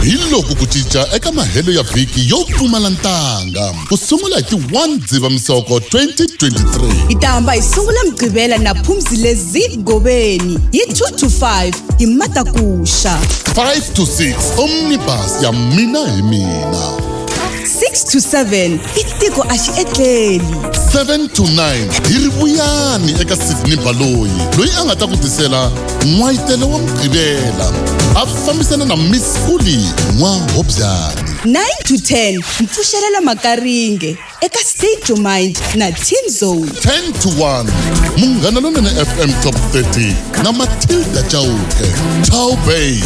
hi loku ku cinca eka mahelo ya vhiki yo pfumala ntanga ku sungula hi ti 1 dzivamisoko 2023 hi ta hamba hi sungula mugqivela na phumzile zid goveni hi 2 to 5 hi matakuxa 5 to 6 omnibus ya mina hi mina 6 to 7 i tiko a xi etleli 7 to 9 hi ri vuyani eka sidney baloyi loyi a nga ta ku tisela n'wayitelo wa mugqivela a fambisana na miss kuli n'wa hobyani 9 to 10 mpfuxelela makaringe eka state your mind na team zone 10 to 1 munghana lonene fm top 30 na matilda chauke chau bay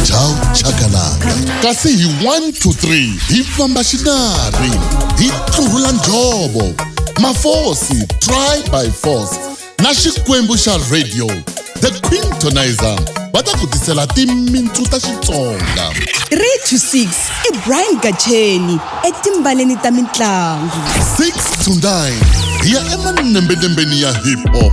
chau chakalaka kasi hi 1 to 3 hi famba xinari hi tlurhula njhovo mafosi try by force na xikwembu xa radio the quintonizer va ta ku tisela timintsu ta xitsonga 3 to 6 i brian gacheni etimbaleni ta mintlangu 6 to 9 hi ya emanembelembeni ya hip hop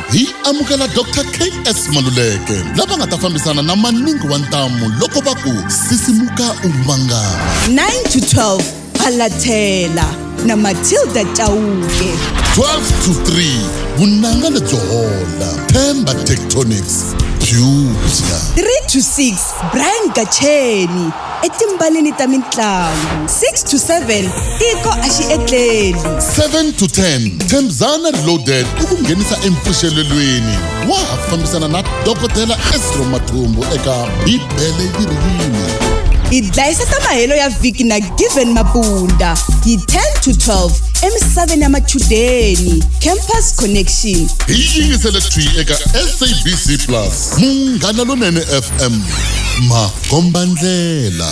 hi amukela dr ks maluleke lava nga ta fambisana na maningi wa ntamu loko va ku sisimuka u mangala 9 to 12 phalathela na matilda chauke 12 to 3 vunanga lebyo hola themba tectonics beauty 3 to 6 brian gacheni etimbaleni ta mintlangu 6 to 7 tiko a xi etleli 7 to 10 themzana reloaded i ku nghenisa empfuxelelweni wa ha fambisana na dokodela esro mathumbu eka bibele yi ri yini hi dlayisa ta mahelo ya vhiki na given mabunda hi 10 to 12 emisaveni ya machudeni campus connection hi yingisele thwi eka sabc plus munghana lonene fm makombandlela